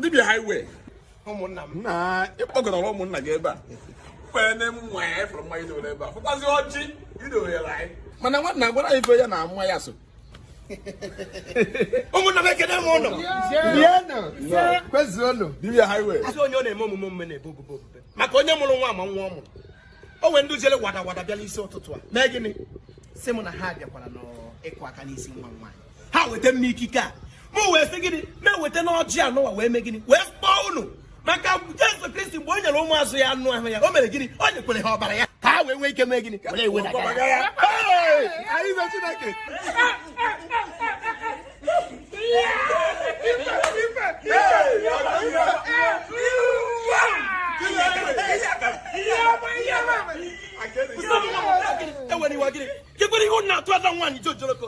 dibia highway ụmụnna m na ịkpọgara ụmụnna gị ebe a kwere na nwa ya efere mmanya i dowere ebe a fụkwazi ọjị i dowere anyị mana nwanna gwara ife ya na nwa ya so ụmụnna m ekene m ụnụ kwezuonụ dibia highway asị onye ọ na-eme omume omume na-ebe obobo obobe maka onye mụrụ nwa ma nwa ọ mụrụ o nwere ndị jere wada wada bịala isi ụtụtụ a mee gịnị sị m na ha bịakwara n'ịkụ aka n'isi nwa nwaanyị ha weta m n'ikike a mụ wee sị gịnị na-eweta n'ọjị anụwa wee mee gịnị wee kpọọ unu maka Jesu Kristi mgbe o nyere ụmụazụ ya anụ ahụ ya o mere gịnị o nyekwara ha ọbara ya ka ha wee nwee ike mee gịnị were ewe na aka ya anyị na Chineke enwere iwe gịnị kekwere ihe ụnụ na-atụ ada nwaanyị jojoloko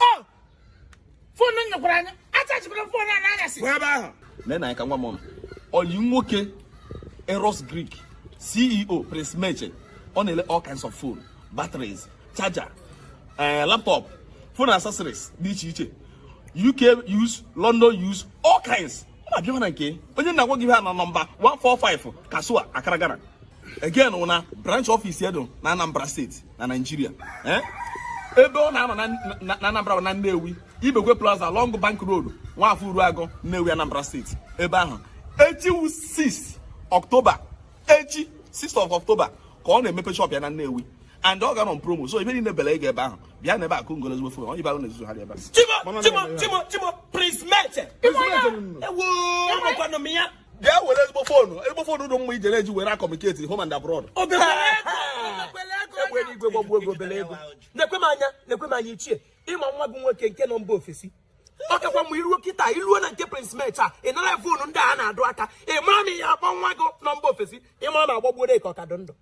Oh! fonu nyekwara anyị achachibere fonu a n'anyasị pụọ ebe ahụ lee na anyị ka nwa m ọnụ ọyi nwoke eros greek ceo prince meche ọ na-ele all kinds of phone batteries charger eh, laptop phone accessories dị iche iche uk use london use all kinds ọ na-abịa na nke onye na-agwa gị ihe a na nọmba 145 Kasoa Accra Ghana again wụ na branch office ya dị na Anambra steeti na Naịjirịa eh? ebe ọ na-anọ na Anambra na Nnewi Ibekwe Plaza along Bank Road Nwafọ Uruagụ Nnewi Anambra steeti ebe ahụ echi wụ 6 October echi 6 of October ka ọ na-emepe shop ya na Nnewi and ọ ga-anọ promo so ife niile bela ị ga ebe ahụ bịa na ebe akụ ngolo ezigbo fon onye bara na-ezuzu ha dị ebe chimo chimo chimo chimo prince meche ewo ọnọkwanụ m ya bịa were ezigbo foonu ezigbo foonu dụ mma ijere eji were communicate home and abroad egbe eluigwe gbagbuo obere ego na-ekwe m anya na-ekwe m anya ichie ị ma nwa gị nwoke nke nọ mba ofesi ọ kakwa mma i ruo kịta i ruo na nke prince meche ị nara foonu ndị a na-adụ aka ị mara m ihe akpọ nwa gị nọ mba ofesi ị mara ma a gbagburu ya ka ọ ka dị ndụ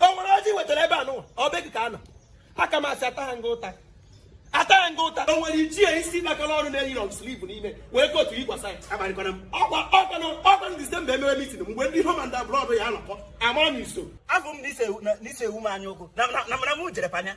o nwere ọjị e wetara ebe anụwa ọ bụ gị ka ọ nọ aka m asị ata ha nga ụta ata ha nga ụta o nwere ichie isi nakọrọ ọrụ na-eyi long sleeve n'ime wee kotu yikwasa ya akparịkwana m ọkwa ọkwanụ ọkwanụ disemba e mewe mitin mgbe ndị home and abroad ya anọkọ amara m iso afọ m na ise ewu m anya ụkwụ na mara m jere panya